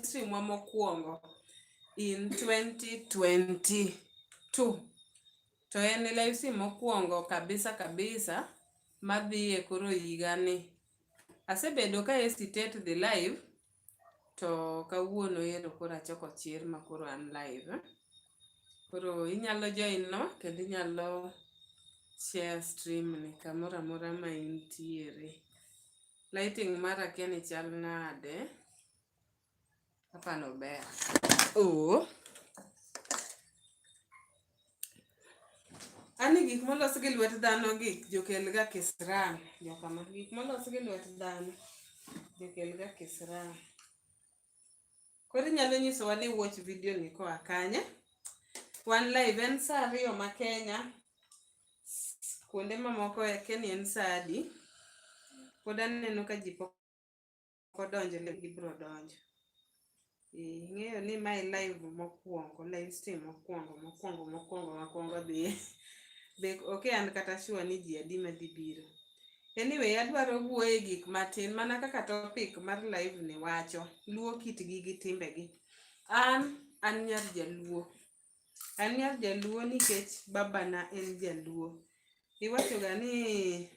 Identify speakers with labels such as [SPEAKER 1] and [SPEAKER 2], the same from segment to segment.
[SPEAKER 1] ministry mwa mokwongo in 2022 to en live stream mokwongo kabisa kabisa madhi e koro higani. Asebedo ka hesitate dhi live to kawuono ero koro achoko chir ma koro an live. Koro inyalo join no kendo inyalo share stream ni kamoro amora ma intiere. Lighting mara kia ni chal nade. Hapa no bea. Oo. Ani gik molos gi lwet dhano gi jokelga kisram jokama gik molos gi lwet dhano jokelga kisram. Koro inyalo nyisowa ni watch video ni koa kanye? Wan live en saa ariyo ma Kenya, kuonde mamoko e Kenya en saa adi? Pod aneno ka ji pok ok odonjo le gibiro donjo ing'eyo ni mae live mokwongo live stream mokwongo mokwongo mokwongo makwongo dhi be ok an kata sure ni ji adi madhi biro anyway adwaro wuoye gik matin mana kaka topic mar live ni wacho luo kitgi gi timbegi an an nyar jaluo An nyar jaluo nikech babana en jaluo. Iwachoga ni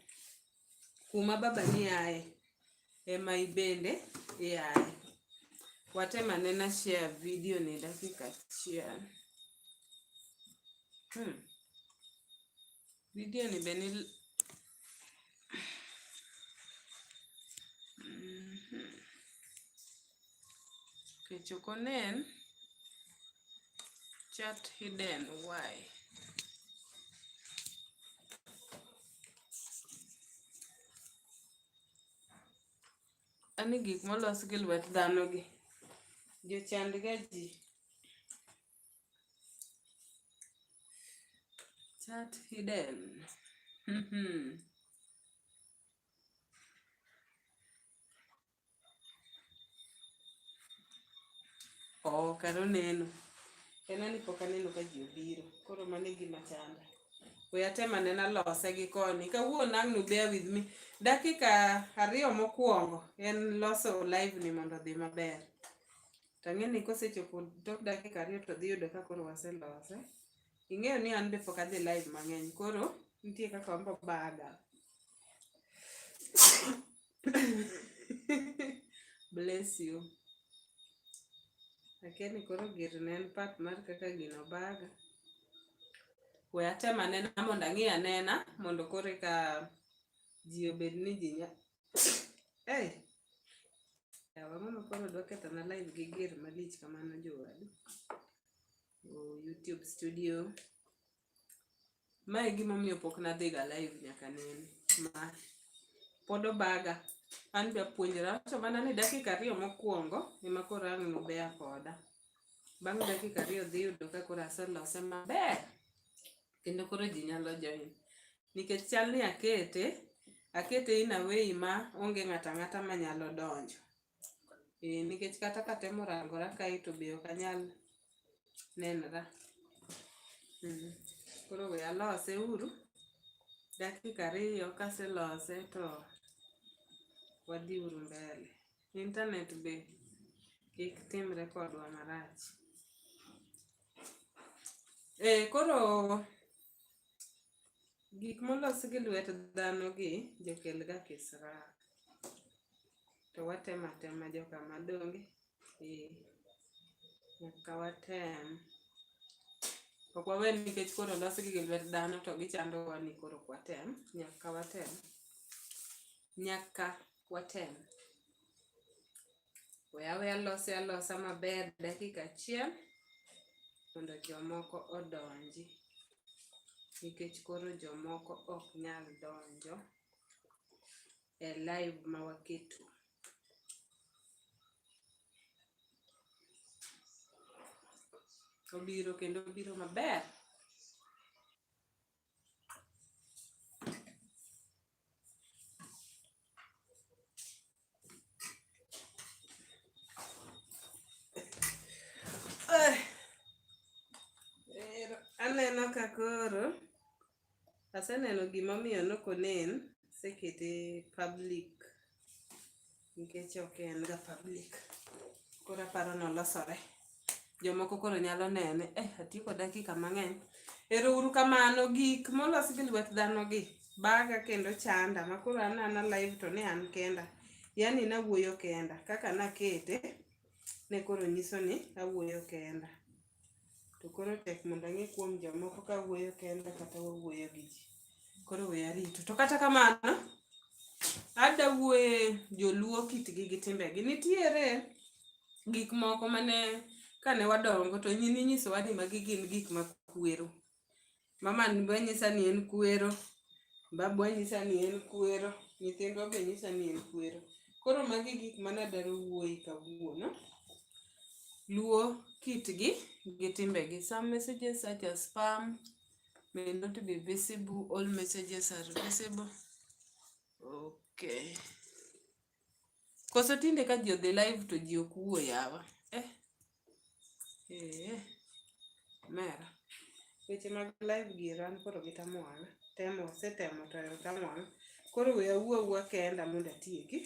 [SPEAKER 1] kuma babani aye ema ibende iaye. Watem anena share video ni dakika achiel. Hmm. Vidio ni be ni kech ok onen chat hidden why ani gik molos gi lwet dhano gi jochandga ji Chat hidden. Mm-hmm. Oh, karo neno. En ani pok aneno ka ji obiro. Koro mano e gima chanda. We atem anena lose gi koni. Kawuono ang' nu bear with me. Dakika ariyo mokwongo en loso live ni mondo odhi maber. To ang'eyo ni kosechopo tok dakika ariyo to dhi yudo ka koro waselose. Ing'eyo ni an be pok adhi live mang'eny koro nitie kaka wambo baga. Bless you. Akia ni koro gir ne en part mar kaka gino baga. We atem anena mondo ang'i anena mondo koro eka ji obed ni ji Hey. Yawa mama koro dwa ketho na live gi ger malich kamano jowadu. Oh, YouTube studio. Mae gima omiyo pok nadhiga live nyaka nene. Ma pod obaga. An be apuonjra to mana ni dakika ariyo mokwongo ema koro ang' nubeya koda. Bang' dakika ariyo dhi yudo ka koro aselose maber. kendo koro ji nyalo join nikech chal ni akete akete in a way ma onge ng'ata ng'ata ma nyalo donjo e, nikech kata katemo rangora kae to be ok anyal nenra mm. koro we alose uru dakika ariyo kaselose to wadhi uru mbele internet be kik timre kodwa marach Eh, koro gik molos gi lwet dhano gi jokel ga kisra. To watemo atema joka madonge. Eh, nyaka watem. Ok wawe nikech koro losgi gi lwet dhano to gichandowa ni koro ok watem. Nyaka watem. Nyaka watem. We awe alose alosa maber dakika achiel mondo jomoko odonji nikech koro jomoko ok nyal donjo e live ma waketo. Obiro kendo obiro maber. aneno ka koro aseneno gimomiyo nokonen sekete public nikech ok en ga public koro aparo nolosore jomoko koro nyalo nene eh atieko dakika mang'eny ero uru kamano gik molos gi lwet dhano gi baga kendo chanda ma koro an ana live to ne an kenda yani nawuoyo kenda kaka nakete ne koro nyiso ni awuoyo kenda To koro tek mondo ang'e kuom jomoko ka wuoyo kenda kata wawuoyo gi ji. Koro we arito. To kata kamano, ada wuoye joluo kitgi gi timbegi. Nitiere gik moko mane kane wadongo to nyiminyisowa ni magi gin gik makwero. Mama be nyisa ni en kwero, babu nyisa ni en kwero, nyithindwa be nyisa ni en kwero. Koro magi gik mana daro wuoyi kawuono. Luo kitgi gi timbegi. Some messages such as spam may not be visible. All messages are visible. Okay. Koso tinde ka ji odhi live to ji ok wuo yawa. Eh. Eh. Mera. Weche mag live gi ran koro gi tamwana. Temo setemo to yo tamwana. Koro we awuo awuo kenda mondo atieki.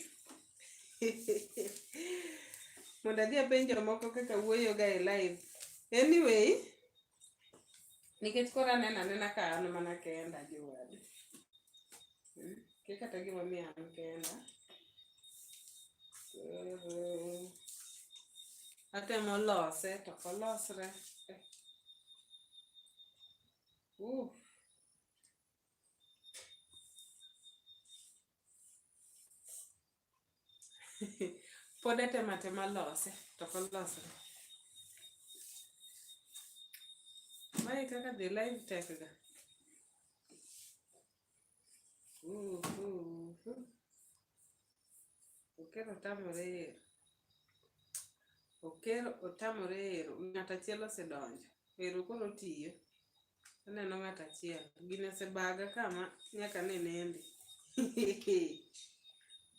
[SPEAKER 1] mondo adhi apenj jomoko kaka wuoyoga e live. Anyway, nikech koro aneno anena ka an mana kenda jowadu hmm? ke kata gima miyo an kenda atemo lose to kolosre uh. pod atemo atema lose to ok olosre mae kaka dhi live tek ga okero otamore ero okero otamore ero ng'at achiel osedonjo ero koro tiyo Aneno ng'at achiel gine sebaga kama nyaka ne nende.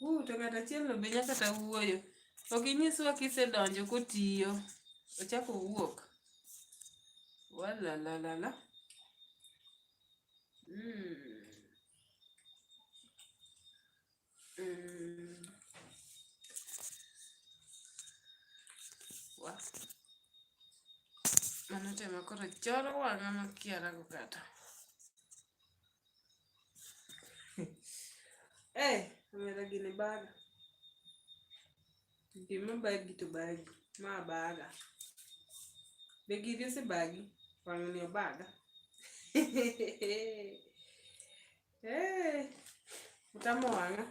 [SPEAKER 1] Uh, to ng'at achiel no be nyaka ta wuoyo. Ok inyiswa kisedonjo kotiyo. Ochako wuok. Wala la la la. Mm. Mano tema koro choro wang'a makiara go kata. Eh, omera gini baga. Gima bagi to bagi. Ma baga. Be gini ose bagi? Wang'ni obaga. Hey, utamo wanga.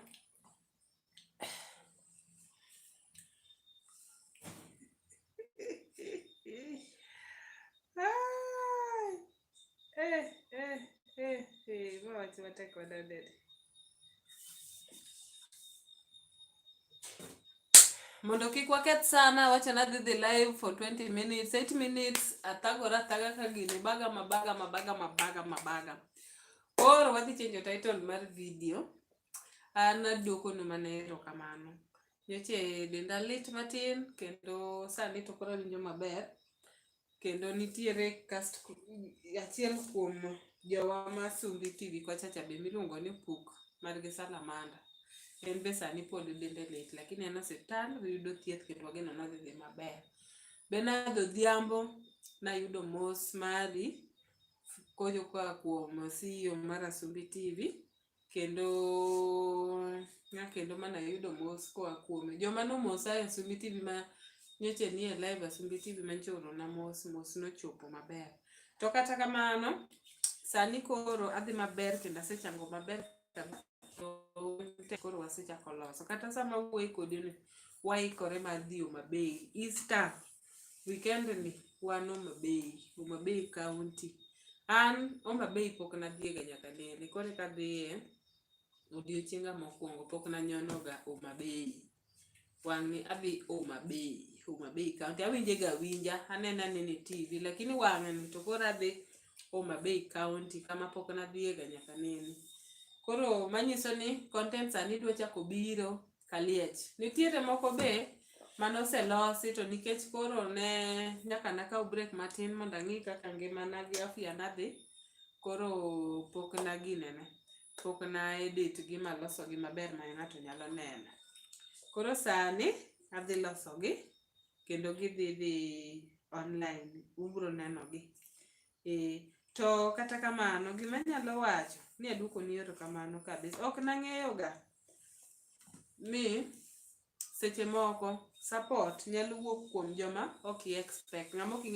[SPEAKER 1] Eh, eh, eh, eh, watu watakuwa dadede. mondo kik waketh sana wacha nadhi dhi live for 20 minutes 8 minutes athagora athaga ka gini baga mabaga mabaga mabaga mabaga Koro wadhi change title mar video. An aduokonu mana erokamano. Nyocha e denda lit matin kendo sani to koro awinjo maber kendo nitiere cast achiel kuom jowa ma Sumbi TV kochacha be miluongo ni Puk margi Salamanda. En be sani pod dende lit lakini en osiptal oyudo thieth kendo wageno nodhi dhi maber. Benard Odhiambo nayudo mos mari koa kuom CEO mar Asumbi TV kendo na kendo mana yudo mos koa kuome. Joma nomosa e Asumbi TV ma nyocha nie live Asumbi TV ma nyocha oorona mos, mos nochopo maber. To kata kamano, sani koro adhi maber kendo asechango maber kabisa. te koro wasechako loso kata sama wuoyi kodi ni waikore mar dhi Homabay Easter weekend ni wan Homabay Homabay county an Homabay pok nadhiega nyaka nene koro eka dhiye odiochienga mokwongo pok nanyonoga Homabay wang'ni abi Homa Bay, Homa Bay County. Awinje ga winja, anena nene TV, lakini wang'ni to koro adhi Homa Bay County kama pok nadhiye ga nyaka nene. Koro manyiso ni content sani dwa chako biro Kaliech. Nitiere moko be mane oselosi to nikech koro ne nyaka nakaw break matin mondo ang'i kaka ngimana gi afya nadhi koro pok naginene. pok na edit gi maloso gi maber ma ng'ato nyalo neno. Koro sani adhi loso gi kendo gidhi dhi online ubro neno gi. Eh, to kata kamano gima nyalo wacho ni aduoko ni erokamano kabisa. Ok nang'eyo ga ni seche moko support nyalo wuok kuom joma ok i expect. Ng'ama ok ing'e